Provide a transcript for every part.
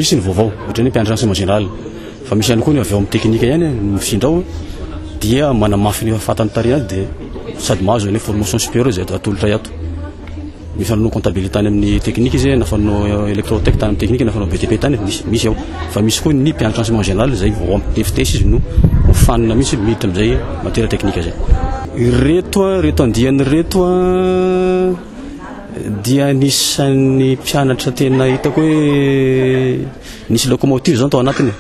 misy ny vaovao ohatran'ny hoe mpiandry renseignement général fa misy ihany koa ny avy ao amin'ny teknika ihany mifindra ao dia manamafy ny fatan'ny tarihany dia sady mahazo ny formation supérieure izay atolotra ato Ny fanao comptabilité tany amin'ny technique izy na fanao électrotech tany amin'ny technique na fanao BTP tany efa misy misy ao. Fa misy koa ny mpianatra enseignement général izay vao ampitefitesy izy no hofanina mihitsy miditra amin'izay matière technique izay. Ireto ireto andiany ireto dia anisan'ny mpianatra tena hitako hoe nisy locomotive izany tao anatiny.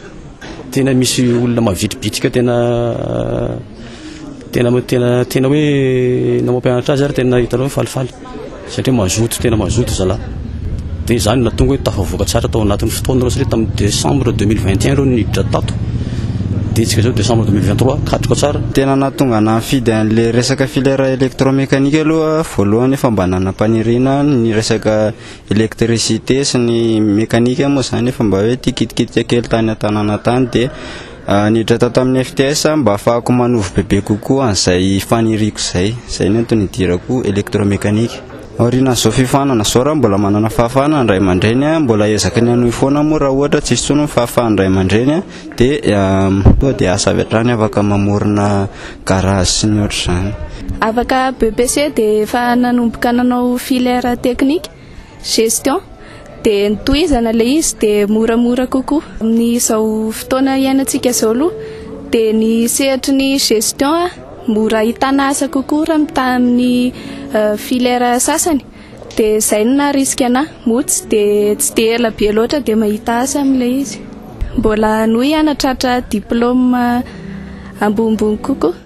Tena misy olona mavitribitrika tena tena tena tena hoe na mampianatra azy ary tena hitanao hoe falifaly satria mazoto tena mazoto zala dia izany na tonga hoe tafavoaka tsara tao anatin'ny fotoana ireo satria tamin'ny décembre 2021 ireo niditra tato dia tsika izao décembre 2023 katroka tsara tena nahatonga ana nifidy an'ilay resaka filière électromécanique aloha voalohany efa mba nanam-paniriana ny resaka Électricité sy ny mécanique moa izany efa mba hoe ity kitikitika kely tany an-tanàna tany dia niditra tao tamin'ny FTS aho mba hahafahako manovo bebe kokoa an'izay faniriako izay. Izay no antony nidirako électromécanique. Aorianan'izao fifaninana izao raha mbola manana fahafahana ny ray aman-dreny, mbola ezaky ny hanohy foana moa raha ohatra tsy misy intsony ny fahafahan'ny ray aman-dreny dia tonga dia aza avy hatrany afaka mamorona garage sy ny ohatr'izany. Afaka BEPC dia efa nanomboka nanao filière technique, gestion, dia ny tohizana ilay izy dia moramora kokoa. Amin'izao fotoana iainantsika izao aloha dia ny sehatry ny gestion mora ahitana asa kokoa raha mitaha amin'ny filière sasany. Dia izay no naharisika anà. Moa tsy dia tsy dia ela be loatra dia mahita asa amin'ilay izy. Mbola hanohy hanatratra diplaoma ambonimbony kokoa.